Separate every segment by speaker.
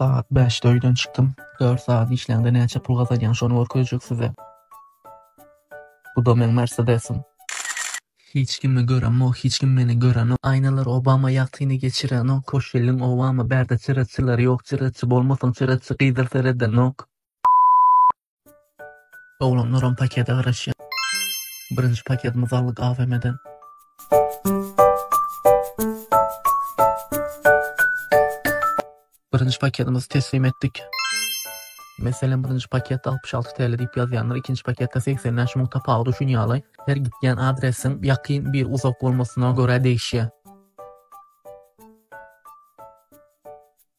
Speaker 1: Sagat bäşde öýden çykdym. Dört sagat işläňde näçe pul gazanýaň şony görkezjek size. Bu da meň mersedesim. Hiç kimi göremok hiç kim meni görenok aýnalar obama ýagtyny geçirenok koşelliň obama bärde çyraçylary ýok çyraçy bolmasaň çyraçy gyzyl seredenok. Oglanlaram pakete garaşýar. Birinji paketimizi aldyk AVM-den. Birinji paketimizi teslim etdik. Meselem, birinji paketde 66 TL diýip ýazýandyr, ikinji paketde 85 müň tapawut üçin ýaly. Her gitýän adresiň ýakyn bir uzak bolmasyna görä degişýär.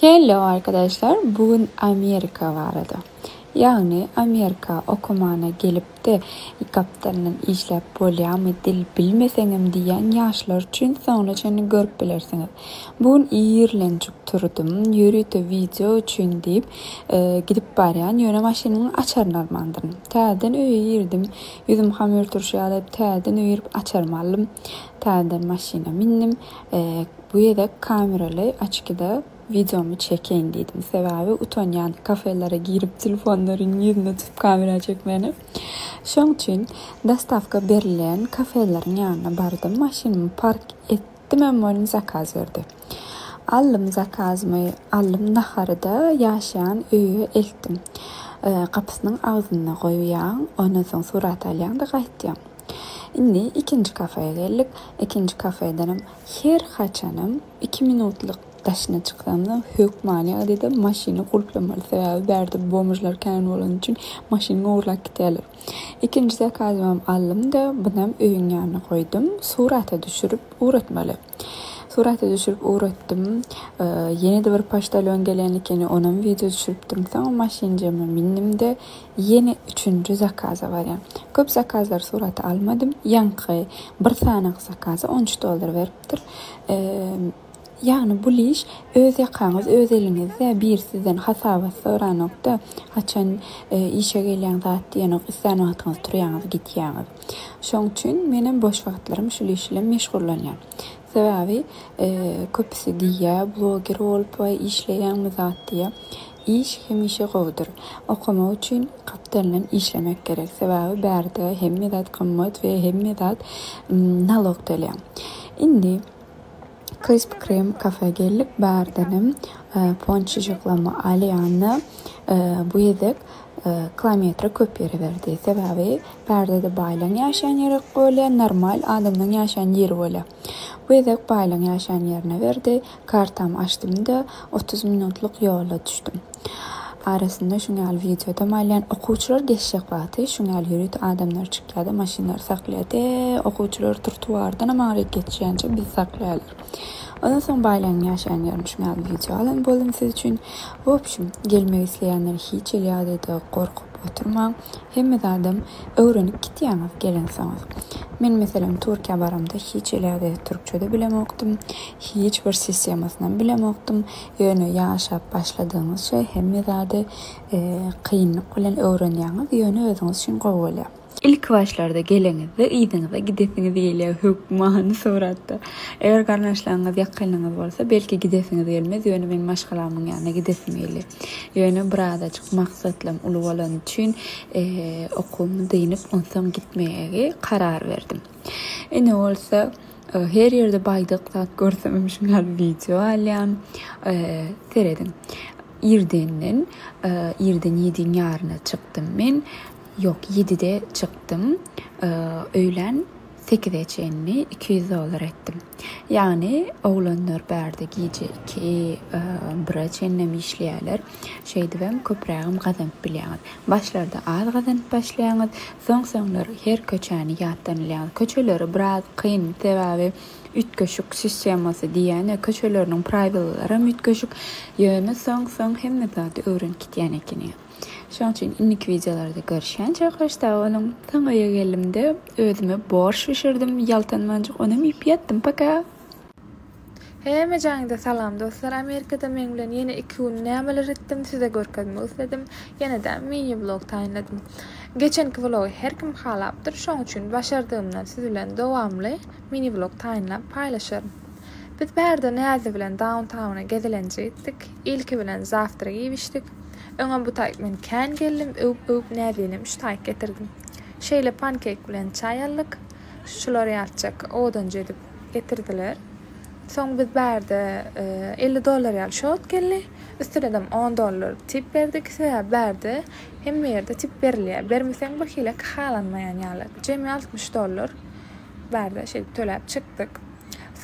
Speaker 1: Hello
Speaker 2: arkadaşlar bu gün Amerika barada ýagny Amerika okamana gelipde iki gapdalyndan işläp bolýamy dil bilmeseňem diýýän ýaşlar üçin soňuna çenli görüp bilersiňiz bu gün irlenjik turdum ýörite wideo üçin diýip gidip barýan ýöne maşynyň açaryny almandyryn täzeden öýe girdim ýüzüm hamyr turşy ýaly täzeden öýe girip açarymy aldym täzeden maşyna mindim. Bu gezek kameraly oçkide wideomy çekeýin diýdim. Sebäbi utanýan kafelere girip telefonlaryň ýüzüne tutup kamera çekmäne. Şoň üçin dostawka berilen kafeleriň ýanyna bardym. Maşynymy park etdimem welin zakaz berdi. Aldym zakazymy, aldym nahary-da ýaşaýan öýe eltdim. Gapysynyň agzynda goýýaň, ondan soň surat alýaň-da gaýtýaň. Indi ikinji kafeýe geldik. Ikinji kafeýdenem her haçanam iki minutlyk daşyna çyksamda hökmany ýagdaýda maşyny gulplamaly. Sebäbi bärde bomžlar kän bolany üçin maşynyňy ogurlap gidýärler. Ikinji zakazymam aldym-da, bunam öýüň ýanyna goýdum. Surata düşürip ugratmaly. Surata düşürip ugratdym. Ýene-de bir poçtalýon gelen ekeni, onam wideo düşüripdim. Soň maşynjama mindim-de, ýene üçünji zakaza barýan. Köp zakazlary surata almadym. Ýaňky bir sanaky zakaza on üç dollar beripdir. Ýagny bul iş öz ýakaňyz, öz eliňizde. Biri sizden hasabat soranok-da, haçan işe gelýäň, zat diýenok. Islän wagtyňyz turýaňyz, gidýäňiz. Şoň üçin menem boş wagtlarym şul iş bilen meşgullanýan. Sebäbi köpüsi diýýä, bloger bolup we işleýäňmi zat diýýä. Iş hemişe gowudyr. Okamak üçin gapdalyndan işlemek gerek. Sebäbi bärde hemme zat gymmat we hemme zat nalog tölýäň. Indi Krisp Krem kafä geldik, bärdenem ponçijyklama alýan-da, bu gezek kilometre köp ýöreberdi. Sebäbi bärde-de baýlaň ýaşaýan ýeri bolýar, normal adamlaň ýaşaýan ýeri bolýar. Bu gezek baýlaň ýaşaýan ýerine berdi, kartamy açdym-da, Otuz minutlyk ýola düşdüm. Arasynda şuň ýaly wideodam alýan. Okuwçylar geçjek wagty şuň ýaly ýörite adamlar çykýar-da, maşynlary saklaýar. Tä okuwçylar trotuardanam aňryk geçýänçä bizi saklaýarlar. Ondan soň Baýlygyň ýaşaýan ýerinde şuň ýaly wideo alan boldum siz üçin. W opşum, gelmek isleýänler hiç hili ýagdaýda gorkup oturmaň. Hemme zadam öwrenip gitýäňiz gelensoňyz. Men meselem Türkiýä baramda hiç iläde türkçede bilemokdym. Hiç bir sistemasynam bilemokdym. Ýöne ýaşap başladygyňyzça hemme zady kynlyk bilen öwrenýäňiz, ýöne özüňiz üçin gowy bolýar. Ilki başlarda geleňizde yzyňyza gidesiňiz gelýär hökmany suratda. Eger garyndaşlaryňyz ýakynlaryňyz bolsa belki gidesiňiz gelmez, ýöne meň maşgalamyň ýanyna gidesim gelýär. Ýöne birazajyk maksatlam uly bolany üçin okuwymy dynyp, onsoň gitmegi karar berdim. Indi bolsa her ýerde baýdak zat görsemem şuny ýaly wideo alýan. Serediň. Irdenden, irden ýediň ýaryna çykdym men. Ýok, ýedide çykdym. Öýlän Sekize çenli iki ýüz dollar etdim. Ýagny oglanlar bärde gije iki, bire çenlem işleýärler. Şeýdibem köprägem gazanyp bilýäňiz. Başlarda az gazanyp başlaýaňyz, soň-soňlar her köçäni ýatdan bilýäňiz. Köçeleri biraz kyn, sebäbi üýtgeşik sistemasy diýýän-ä, köçeleriniň praýwylalaram üýtgeşik. Ýöne soň-soň hemme zady öwrenip gitýän ekeniň. Şoň üçin indiki wideolarda görüşýänçä hoş sag boluň. Soň öýe geldimde özüme borş bişirdim ýaltanmanjyk onam iýip ýatdym paka.
Speaker 3: Hemme jaňda salam dostlar Amerikada meň bilen ýene iki gün nämeler etdim size görkezmek isledim ýenedä mini vlog taýynladym geçenki vlogy her kim halapdyr şoň üçin başardygymdan siz bilen dowamly mini vlog taýynlap paýlaşaryn biz bärde Näzli bilen Dauntauna gezelenje gitdik ilki bilen zawtrak iýip içdik Öňem bu taýk men kän geldim, öwüp-öwüp näzlinem üç taýk getirdim. Şeýle pankek bilen çaý aldyk. Şular ýatjak odunjy edip getirdiler. Soň biz bärde elli dollar ýaly şot geldi. Üstünedem on dollar tip berdik. Sebäbi bärde hemme ýerde tip berilýär. Bermeseň birhili halanmaýan ýaly. Jemi altmyş dollar bärde şeýdip töläp çykdyk.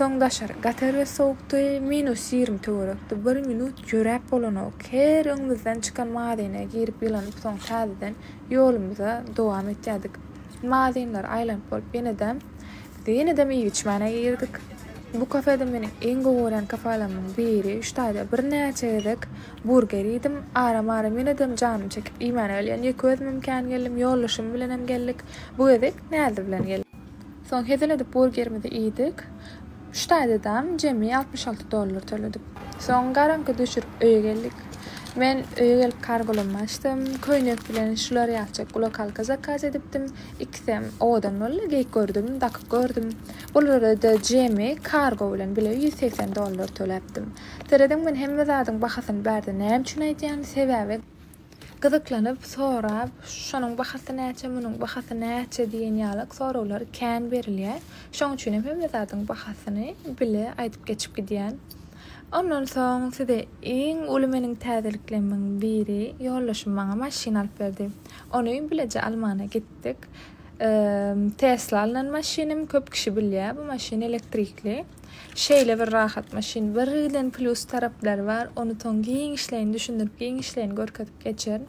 Speaker 3: Soň daşary gatar we sowukdy, minus ýigrimi töwerekdi, bir minut ýöräp bolanok, her öňümizden çykan mazyna girip ýylanyp soň täzeden ýolumyza dowam etýärdik. Mazynlary aýlanyp bolup ýenedem biz ýenedem iýip-içmäne girdik. Bu kafede meniň iň gowy görýän kafelamyň biri, üç aýda birnäçe gezek burger iýdim, aram-aram ýenedem janym çekip iýmäne gelýän, ýeke özümem kän geldim, ýoldaşym bilenem geldik, bu gezek Näzli bilen geldik. Soň hezil edip burgerimizi iýdik. Üç daýzadam jemi altmyş alty dollar töledik. Soň garaňky düşürip öýe geldik. Men öýe gelip kargolamy açdym. Köýnek bilen şular ýatjak gulakalka zakaz edipdim. Ikisem owadan boldy. Geýip gördüm, dakyp gördüm. Bulara-da jemi kargo bilen bile ýüz segsen dollar töläpdim. Serediň men hemme zadyň bahasyny bärde näme üçin aýdýan? Sebäbi. Gyzyklanyp, sorap, şonuň bahasy näçe, munuň bahasy näçe diýen ýaly soraglar kän berilýär. Şoň üçin hem hemme zadyň bahasyny bile aýdyp geçip gidýän. Ondan soň size iň uly meniň täzeliklerimiň biri, ýoldaşym maňa maşyn alyp berdi. Ony bileje almana gitdik. Tesla alnan maşynym köp kişi bilýär. Bu maşyn elektrikli. Şeýle bir rahat maşyn birden plyus taraplary bar ony soň giňişleýin düşündirip giňişleýin görkezip geçerin.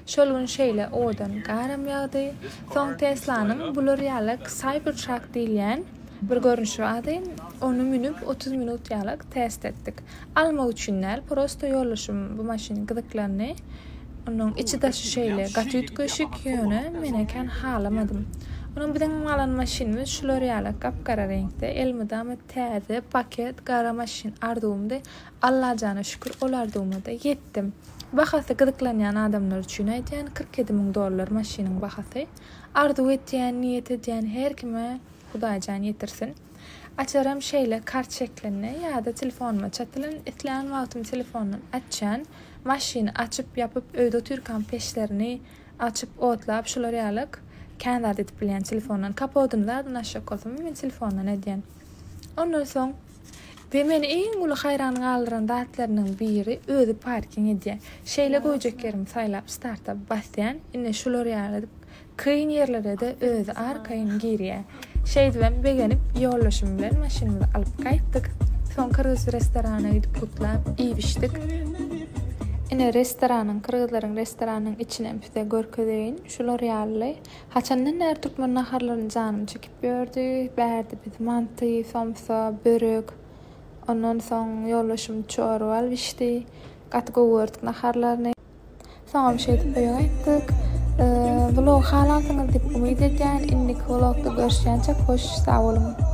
Speaker 3: Şol gün şeýle owadan garam ýagdy. Soň Teslanyň bular ýalak Cybertruck diýilýän bir görnüşi bardy. Ony münüp otuz minut ýalak test etdik. Almak üçin däl prosto ýoldaşym bu maşyn gyzyklandy onuň içi daşy şeýle gaty üýtgeşik ýöne menä kän halamadym onuň biziň alan maşynymyz şular ýaly gap gara reňkde elmydama täze paket gara maşyn arzuwymdy Allajana şükür ol arzuwymada ýetdim bahasy gyzyklanýan adamlar üçin aýdýan kyrk ýedi müň dollar maşynyň bahasy arzuw etýän niýet edýän her kime hudaýjan ýetirsin. Açaram şeýle kart şeklinde ýa-da telefonuma çatylan, islän wagtym telefondan açýan, maşyny açyp, ýapyp, öýde otyrkam peçlerini açyp, otlap, şular ýalyk kän zat edip bilýän telefondan. Kapodyny zadyndan açjak bolsam hem men telefondan edýän. Ondan soň we meni iň uly haýran galdyran zatlarynyň biri özi parking edýär. Şeýle goýjak ýerimi saýlap starta basýan, ine şular ýaly Kyn ýerlere-de özi arkaýyn girýä. Şeýdibem begenip, ýoldaşym bilen maşynymyzy alyp gaýtdyk. Soň kyrgyz restorana gidip gutlap, iýip-içdik. Ine, restoranyň, kyrgyzlaryň restoranynyň içinem size görkezeýin. Şular ýaly. Haçandan bäri türkmen naharlaryny janym çekip ýördi. Bärde biz manty, somsa, börek, ondan soň ýoldaşym çorba alyp içdi. Gaty gowy gördük naharlaryny. Soňam şeýdip oýa gaýtdyk. Vlog halasyňyz diýip umyt edýän. Indiki vlogda görüşýänçek hoş sag boluň.